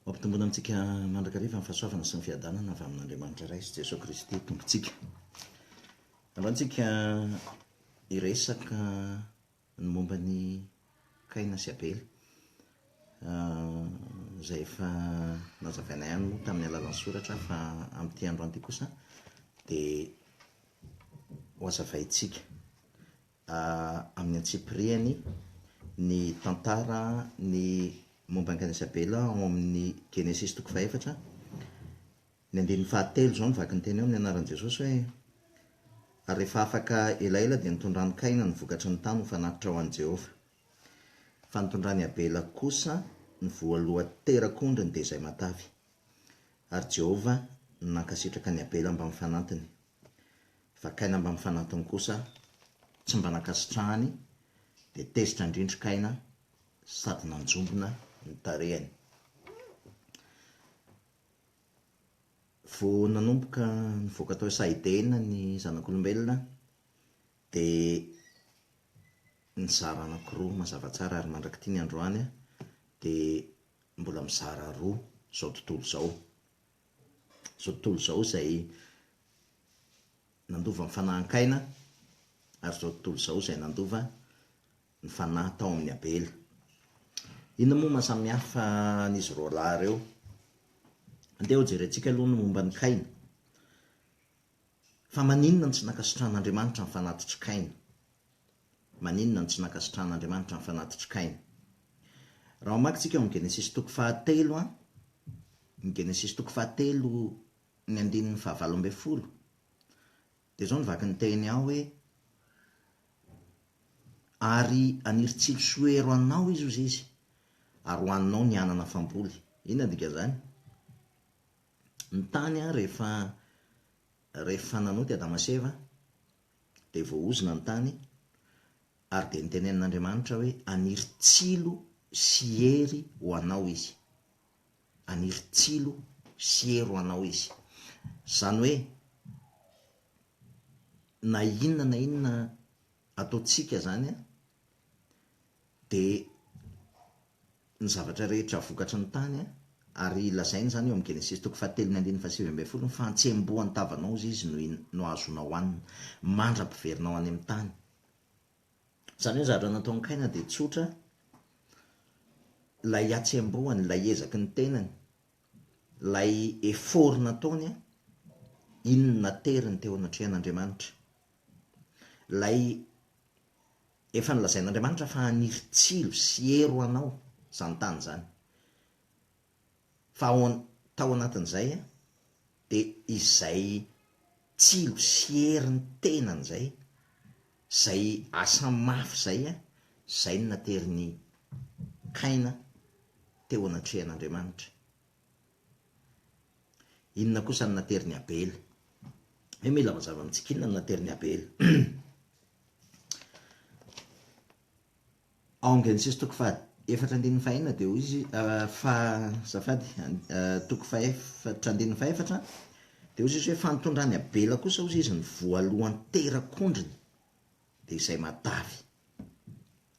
Ampitomboina amintsika mandrakariva ny fahasoavana sy ny fiadanana avy amin'Andriamanitra Ray sy Jesoa Kristy Tompontsika. Androany tsika hiresaka ny momba ny Kaina sy Abela. Izay efa nazavaina ihany moa tamin'ny alalan'ny soratra fa amin'ity androany ity kosa dia ho hazavaintsika. amin'ny antsipirihany, ny tantara ny momba an'i Kaina sy Abela ao amin'ny Genesisy toko fahefatra, ny andininy fahatelo izao no vaky ny teny eo amin'ny anaran'i Jesosy hoe, Ary rehefa afaka elaela dia nitondran'i Kaina ny vokatry ny tany ho fanatitra ho an'i Jehovah. Fa nitondran'i Abela kosa ny voalohan-terak'ondriny dia izay matavy. Ary Jehovah nankasitraka an'i Abela mbamin'ny fanantiny. Vakaina mba mifanantona kosa tsy mba nankasitrahany dia tezitra an-drindrin-kaina sady nanjombona ny tarehiny. Vao nanomboka nivoaka tao Saideina ny zanak'olombelona dia nizara anankiroa mazava tsara ary mandrak'ity ny androany dia mbola mizara roa izao tontolo izao. izao tontolo izao izay nandova ny fanahan-kaina ary izao tontolo izao izay nandova ny fanahy tao amin'i Abela. Inona moa mahasamihafa an'izy roalahy ireo? Andeha hojerentsika aloha ny momba an'i Kaina. Fa maninona no tsy nankasitrahan'Andriamanitra ny fanatitr'i Kaina? Maninona no tsy nankasitrahan'Andriamanitra ny fanatitr'i Kaina? Raha mamaky tsika ao amin'ny Genesisy toko fahatelo an, ny Genesisy toko fahatelo ny andininy fahavalo ambin'ny folo, dia izao ny vaky ny teny ao hoe, Ary haniry tsilo sy ho hero anao izy, hoy Izy, ary ho haninao ny anana famboly. Inona no dikan'izany? Ny tany an, rehefa, rehefa nanota i Adama sy Eva, dia voaozona ny tany, ary dia notenenin'Andriamanitra hoe, Haniry tsilo sy hery ho anao izy. Haniry tsilo sy hery ho anao izy. Izany hoe, na inona na inona ataontsika izany, dia ny zavatra rehetra vokatry ny tany an, ary lazainy izany eo amin'ny Genesisy toko fahatelo ny andininy fahasivy ambin'ny folo, ny fahantsembohan'ny tavanao hozy izy no in, no azonao hanina, mandra-piverinao any amin'ny tany. Izany hoe ny zavatra nataon'i Kaina dia tsotra, ilay hatsembohany, ilay ezaky ny tenany, ilay effort nataony an, iny no nateriny teo anatrehan'Andriamanitra. Ilay Efa nolazain'Andriamanitra fa haniry tsilo sy hery ho anao izany tany izany. Fa ao tao anatin'izay dia izay tsilo sy hery ny tenany izay, izay asa mafy izay, izay no naterin'i Kaina teo anatrehan'Andriamanitra. Inona kosa no naterin'i Abela? Hoe mila mazava amintsika inona no naterin'i Abela. Ao Genesisy toko faha efatra andininy fahenina dia hoy izy uh, fa zafady uh, toko fahefatra andininy fahefatra dia hoy izy hoe fa nitondrany Abela kosa hoy izy ny voalohany terak'ondriny dia izay matavy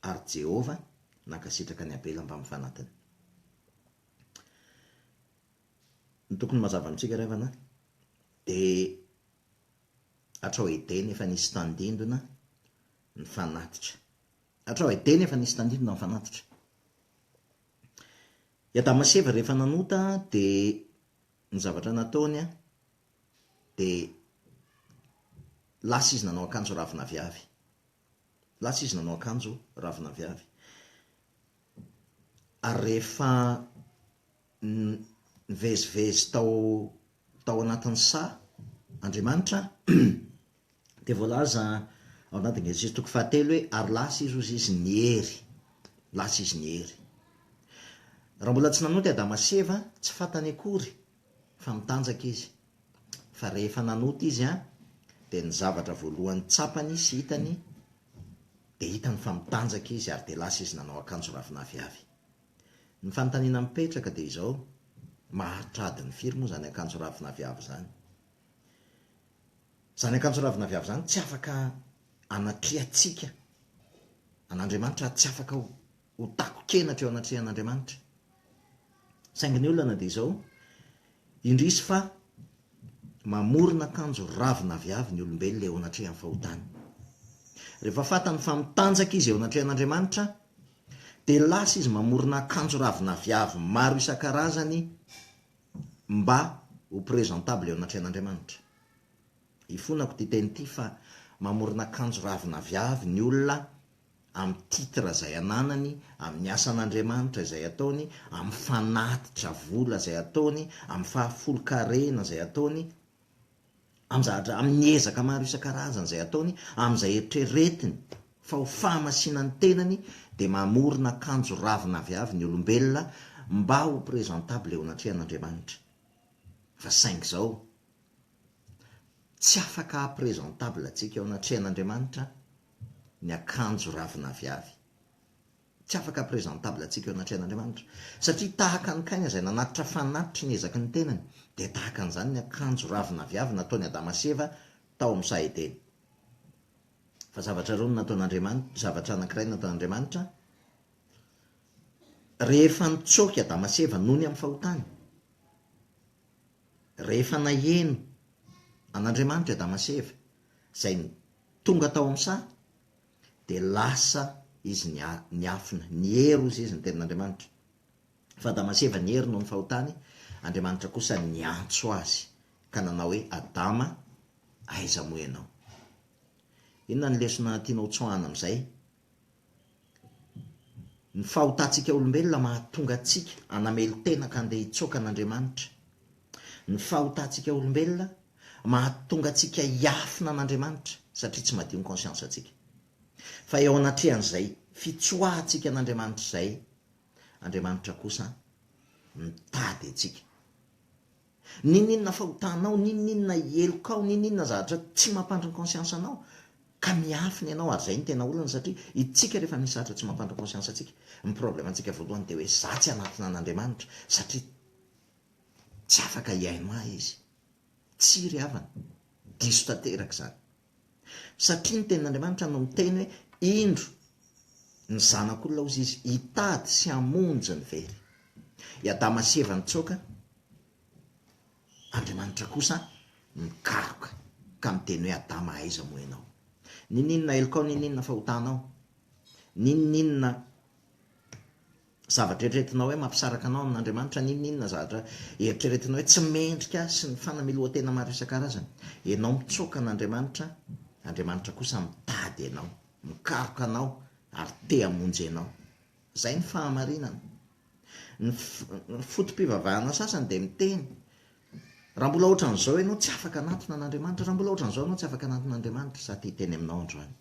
ary Jehovah nankasitraka ny Abela mbamin'ny fanatiny. Ny tokony mazava amintsika ry havana dia hatrao Edena efa nisy tandindona ny fanatitra. Hatrao Edena efa nisy tandindona ny fanatitra. I Adama sy Eva rehefa nanota dia ny zavatra nataony dia lasa izy nanao akanjo ravina aviavy. Lasa izy nanao akanjo ravina aviavy. ary rehefa nivezivezy tao tao anatin'ny saha Andriamanitra dia voalaza ao anatin'ny Genesisy toko fahatelo hoe, ary lasa izy hozy izy niery, lasa izy niery. Raha mbola tsy nanonty Adama sy Eva, tsy fantany akory fa mitanjaka izy. Fa rehefa nanota izy an, dia ny zavatra voalohany tsapany sy hitany dia hitany fa mitanjaka izy ary dia lasa izy nanao akanjo ravin'aviavy. Ny fanontaniana mipetraka dia izao, maharitra adiny firy moa izany akanjo ravin'aviavy izany? Izany akanjo ravin'aviavy izany tsy afaka anatrehantsika an'Andriamanitra, tsy afaka ho takon-kenatra eo anatrehan'Andriamanitra. Saingy ny olana dia izao, indrisy fa mamorona akanjo ravina aviavy ny olombelona eo anatrehan'ny fahotany. Rehefa fantany fa mitanjaka izy eo anatrehan'Andriamanitra, dia lasa izy mamorona akanjo ravina aviavy maro isan-karazany mba ho presentable eo anatrehan'Andriamanitra. Ifonako ity teny ity fa mamorona akanjo ravina aviavy ny olona amin'ny titre izay ananany, amin'ny asan'Andriamanitra izay ataony, amin'ny fanatitra vola izay ataony, amin'ny fahafolon-karena izay ataony, amin'ny zavatra, amin'ny ezaka maro isan-karazany izay ataony, amin'izay eritreretiny fa ho fahamasina ny tenany, dia mamorona akanjo ravina avy avy ny olombelona mba ho présentable eo anatrehan'Andriamanitra. Fa saingy izao, Tsy afaka haha presentable antsika eo anatrehan'Andriamanitra ny akanjo ravin'aviavy. Tsy afaka haha presentable antsika eo anatrehan'Andriamanitra. Satria tahaka ny kaina izay nanatitra fanatitry ny ezaky ny tenany, dia tahaka an'izany ny akanjo ravin'aviavy nataon'i Adama sy Eva tao amin'ny saha Edena. Fa zavatra roa no nataon'Andriamanitra, zavatra anankiray no nataon'Andriamanitra, rehefa nitsoaka i Adama sy Eva nony amin'ny fahotany, rehefa naheno an'Andriamanitra Adama sy Eva, izay tonga tao amin'ny saha, dia lasa izy niafina, niery hozy izy ny tenin'Andriamanitra. Fa Adama sy Eva niery noho ny fahotany, Andriamanitra kosa niantso azy ka nanao hoe, Adama, aiza moa ianao? Inona no lesona tianao tsoahana amin'izay? Ny fahotantsika olombelona mahatonga antsika hanamelo-tena ka handeha hitsoaka an'Andriamanitra. Ny fahotantsika olombelona mahatonga antsika hiafina an'Andriamanitra satria tsy madio ny conscience antsika. Fa eo anatrehan'izay fitsoahantsika an'Andriamanitra izay, Andriamanitra kosa mitady antsika. N'inon'inona fahotanao, n'inon'inona helokao, n'inon'inona zavatra tsy mampandry ny conscience anao, ka miafina ianao, ary izay no tena olana satria itsika rehefa misy zavatra tsy mampandry ny conscience antsika, ny problème antsika voalohany dia hoe za tsy anatona an'Andriamanitra satria tsy afaka hihaino ahy izy. Tsia ry havana, diso tanteraka izany. Satria ny Tenin'Andriamanitra no miteny hoe, Indro, ny Zanak'olona hozy izy, hitady sy hamonjy ny very. I Adama sy Eva nitsoaka, Andriamanitra kosa nikaroka ka niteny hoe, Adama aiza moa ianao? Ninoninona helokao, ninoninona fahotanao, ninoninona Zavatra eritreretinao hoe mampisaraka anao amin'Andriamanitra ny inona inona zavatra eritreretinao hoe tsy mendrika sy ny fanamelohan-tena maro isan-karazany. Enao mitsoaka an'Andriamanitra, Andriamanitra kosa mitady enao, mikaroka anao ary te hamonjy enao. Izay ny fahamarinana. Ny foto-pivavahana sasany dia miteny, raha mbola ohatran'izao enao tsy afaka hanatona an'Andriamanitra, raha mbola ohatran'izao enao tsy afaka hanatona Andriamanitra, za te hiteny aminao androany.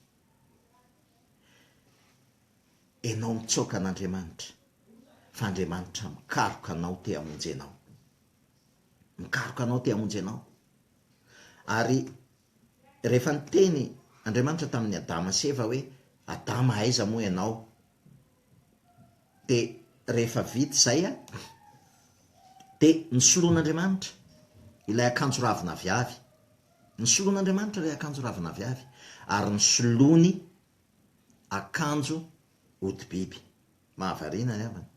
Enao mitsaoka an'Andriamanitra fa Andriamanitra mikaroka anao te hamonjy anao. Mikaroka anao te hamonjy anao. Ary rehefa niteny Andriamanitra tamin'ny Adama sy Eva hoe Adama aiza moa ianao? Dia rehefa vita izay a, dia nosoloan'Andriamanitra ilay akanjo ravina aviavy Nisoloan'Andriamanitra ilay akanjo ravin'aviavy, ary nisolony akanjo hodi-biby. Mahavariana ry havana.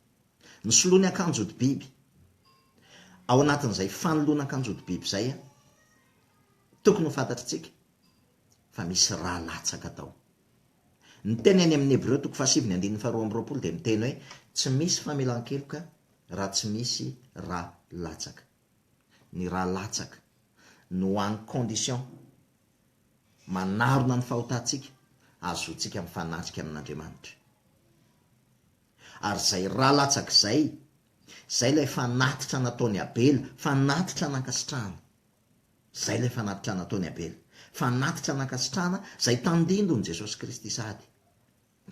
Nisoloany akanjo hodi-biby. Ao anatin'izay fanoloana akanjo hodi-biby izay, tokony ho fantatritsika fa misy ra latsaka tao. Ny teny any amin'ny Hebreo toko fahasivy ny andininy faharoa amby roapolo dia miteny hoe tsy misy famelan-keloka raha tsy misy ra latsaka. ny rà latsaka no any condition manarona ny fahotantsika ahazoantsika mifanatrika amin'Andriamanitra. Ary izay rà latsaka izay, izay ilay fanatitra nataon'i Abela, fanatitra nankasitrahana. Izay ilay fanatitra nataon'i Abela, fanatitra nankasitrahana izay tandindon'i Jesosy Kristy sady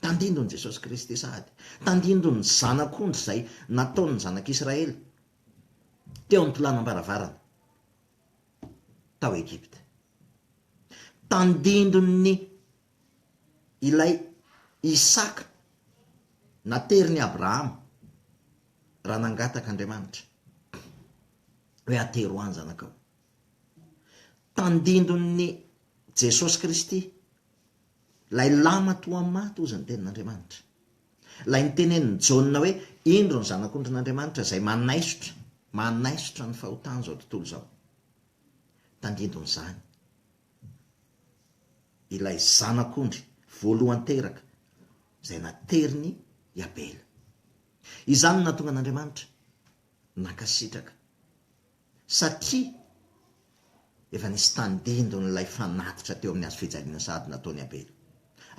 Tandindon' i Jesosy Kristy sady tandindon' ny zanak' ondry izay nataon' ny Zanak' Isiraely teo am-pilanam-baravarana tao Egypta. Tandindon' ny ilay Isaka naterin' i Abrahama raha nangataka Andriamanitra hoe atero ahy ny zanakao. Tandindon' ny Jesosy Kristy Ilay lama toa maty, hozy ny Tenin'Andriamanitra. Ilay nitenenin'i Jaona hoe, Indro ny Zanak'ondrin'Andriamanitra izay manaisotra, manaisotra ny fahotan'izao tontolo izao. Tandindon'izany, ilay Zanak'ondry voalohany teraka izay naterin'i Abela. Izany no nahatonga an'Andriamanitra nankasitraka satria efa nisy tandindon' ilay fanatitra teo amin'ny hazofijaliana sahady nataony Abela.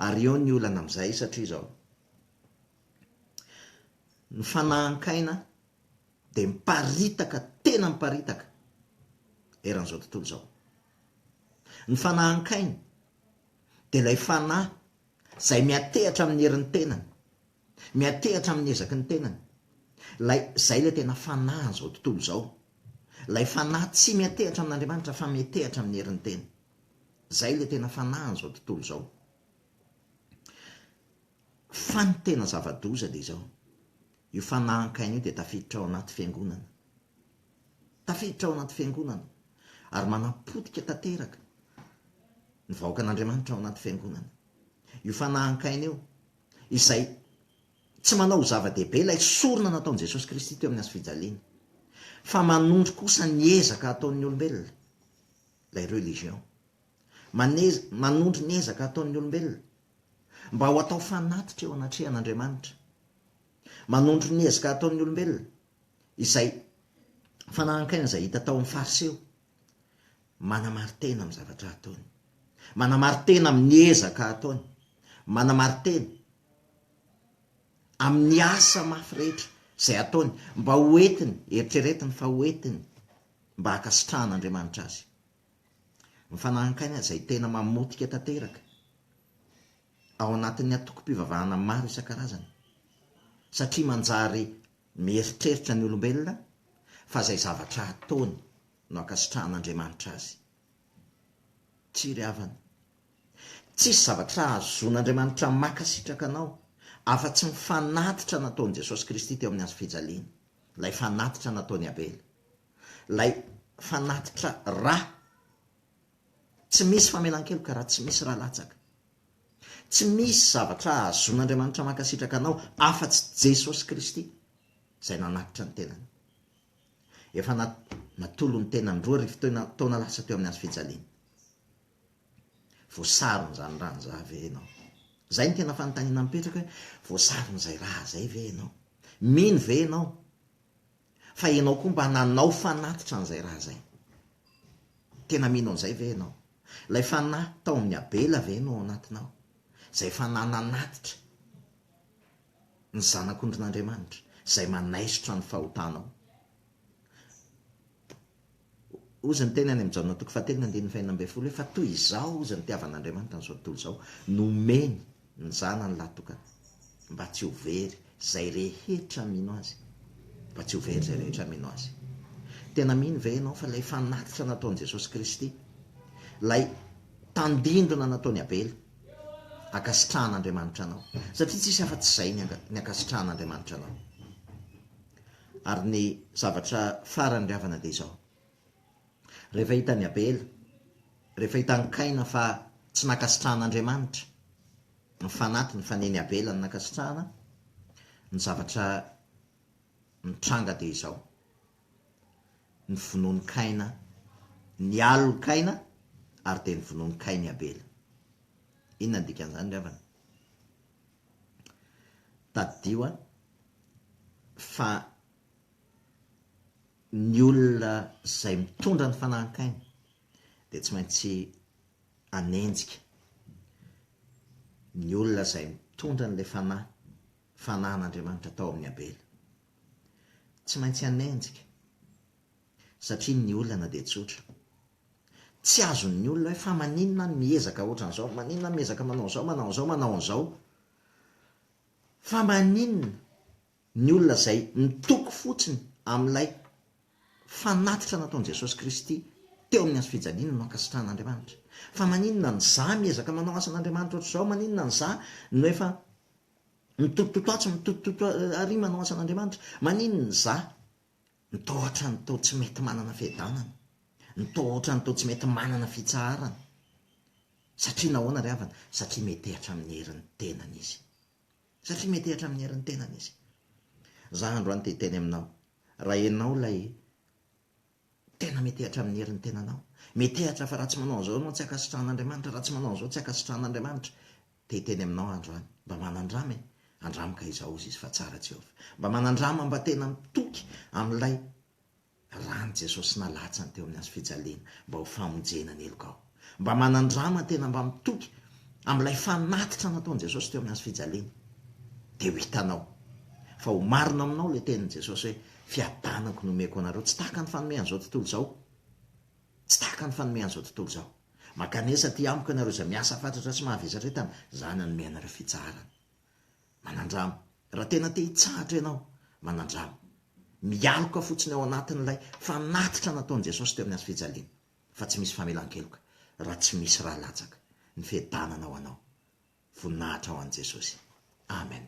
Ary eo ny olana amin'izay, satria izao, ny fanahan-kaina dia miparitaka, tena miparitaka, eran'izao tontolo izao. Ny fanahan-kaina dia ilay fanahy izay miantehatra amin'ny herin'ny tenany, Miantehatra amin'ny ezaky ny tenany. Ilay, izay ilay tena fanahin'izao tontolo izao. Ilay fanahy tsy miantehatra amin'Andriamanitra fa miantehatra amin'ny herin'ny teny. Izay ilay tena fanahin'izao tontolo izao. Fa ny tena zava-doza dia izao, io fanahan-kaina io dia tafiditra ao anaty fiangonana. Tafiditra ao anaty fiangonana, ary manapotika tanteraka ny vahoakan'Andriamanitra ao anaty fiangonana. Io fanahan-kaina io, izay tsy manao ho zava-dehibe ilay sorona nataon'i Jesosy Kristy teo amin'ny hazo fijaliana, fa manondro kosa ny ezaka ataon'ny olombelona, ilay religion. Manez, manondro ny ezaka ataon'ny olombelona, mba ho atao fanatitra eo anatrehan'Andriamanitra. Manondro ny ezaka ataon'ny olombelona, izay fanahan-kaina izay hita tao amin'ny Fariseo, Manamari-tena amin'ny zavatra ataony. Manamari-tena amin'ny ezaka ataony. Manamari-tena amin'ny asa mafy rehetra izay ataony mba ho entiny, eritreretiny fa ho entiny mba hankasitrahan'Andriamanitra azy. Ny fanahy ankaina izay tena mamotika tanteraka ao anatin'ny antokom-pivavahana maro isan-karazany satria manjary mieritreritra ny olombelona fa izay zavatra ataony no ankasitrahan'Andriamanitra azy. Tsy ry havana. Tsisy zavatra hahazoan'Andriamanitra mankasitraka anao afa-tsy ny fanatitra nataon'i Jesosy Kristy teo amin'ny hazo fijaliana, ilay fanatitra nataon'i Abela, ilay fanatitra ra. Tsy misy famelan-keloka raha tsy misy ra latsaka. Tsy misy zavatra hahazoan'Andriamanitra mankasitraka anao afa-tsy Jesosy Kristy izay nanatitra ny tenany. Efa natolony tena ny roa arivo taona lasa teo amin'ny hazo fijaliana. Voasaron'izany raha izany ve ianao? Izay no tena fanontaniana mipetraka hoe voasaron'izay raha izay ve ianao? Mino ve ianao fa ianao koa mba nanao fanatitra an'izay raha izay? Tena mino an'izay ve ianao? Ilay fanahy tao amin'ny Abela ve no ao anatinao? Izay fanahy nanatitra ny Zanak'ondrin'Andriamanitra, izay manaisotra ny fahotanao. Hozy ny teny any amin'ny Jaona toko fahatelony andininy fahenina ambin'ny folo hoe, Fa toy izao hozy ny nitiavan'Andriamanitra an'izao tontolo izao, nomeny ny Zanany lahatokany, mba tsy ho very izay rehetra mino Azy. Mba tsy ho very izay rehetra mino Azy. Tena mino ve ianao fa ilay fanatitra nataon'i Jesosy Kristy, ilay tandindona nataon'i Abela, ankasitrahan'Andriamanitra anao, satria tsisy afa-tsy izay ny ny ankasitrahan'Andriamanitra anao. Ary ny zavatra farany ry havana dia izao, rehefa hitan'i Abela, rehefa hitan'i Kaina fa tsy nankasitrahan'Andriamanitra ny fanatiny fa nen'i Abela no nankasitrahana, ny zavatra mitranga dia izao, Novonoin'i Kaina ny alin'i Kaina ary dia novonoin'i Kaina i Abela. Inona no dikan'izany ry havana? Tadidio an, fa ny olona izay mitondra ny fanahin'i Kaina dia tsy maintsy hanenjika ny olona izay mitondra an'ilay fanahy, fanahin'Andriamanitra tao amin'i Abela. Tsy maintsy hanenjika satria ny olana dia tsotra. Tsy azon'ny olona hoe fa maninona any miezaka ohatran'izao, maninona miezaka manao an'izao, manao an'izao, manao an'izao. Fa maninona ny olona izay mitoky fotsiny amin'ilay fanatitra nataon'i Jesosy Kristy teo amin'ny hazo fijaliana no ankasitrahan'Andriamanitra. Fa maninona ny za miezaka manao asan'Andriamanitra ohatr'izao, maninona ny za no efa Mitototo atsy mitototo ary manao asan'Andriamanitra. Maninona izaho no toa ohatran'ny toa tsy mety manana fiadanana, ny toa ohatran'ny toa tsy mety manana fitsaharana? Satria nahoana ry havana? Satria metehatra amin'ny herin'ny tenany izy. Satria metehatra amin'ny herin'ny tenany izy. Za androany te hiteny aminao, raha enao ilay Tena metehatra amin'ny herin'ny tenanao. Metehatra fa raha tsy manao an'izao ianao tsy ankasitrahan'Andriamanitra, raha tsy manao an'izao tsy ankasitrahan'Andriamanitra. Te hiteny aminao andro any, mba manandrama e! Andramo ka izao, hoy izy, fa tsara Jehovah. Mba manandrama mba tena mitoky amin'ilay ran'i Jesosy nalatsany teo amin'ny hazofijaliana mba ho famonjena ny helokao. Mba manandrama tena mba mitoky amin'ilay fanatitra nataon'i Jesosy teo amin'ny hazo fijaliana. Dia ho hitanao. Fa ho marina aminao ilay tenin'i Jesosy hoe, Fiadanako no omeko anareo. Tsy tahaka ny fanomean'izao tontolo izao. Tsy tahaka ny fanomean'izao tontolo izao. Mankanesa aty amiko ianareo izay miasa fatratra sy mahavesatra entana. Izaho nanome anareo fitsaharana. Manandrama. Raha tena te hitsahatra ianao, manandrama. Mialoka fotsiny ao anatin'ilay fanatitra nataon'i Jesosy teo amin'ny hazo fijaliana. fa tsy misy famelan-keloka raha tsy misy ra latsaka ny fiadanana ho anao. Voninahitra ho an'i Jesosy. Amen.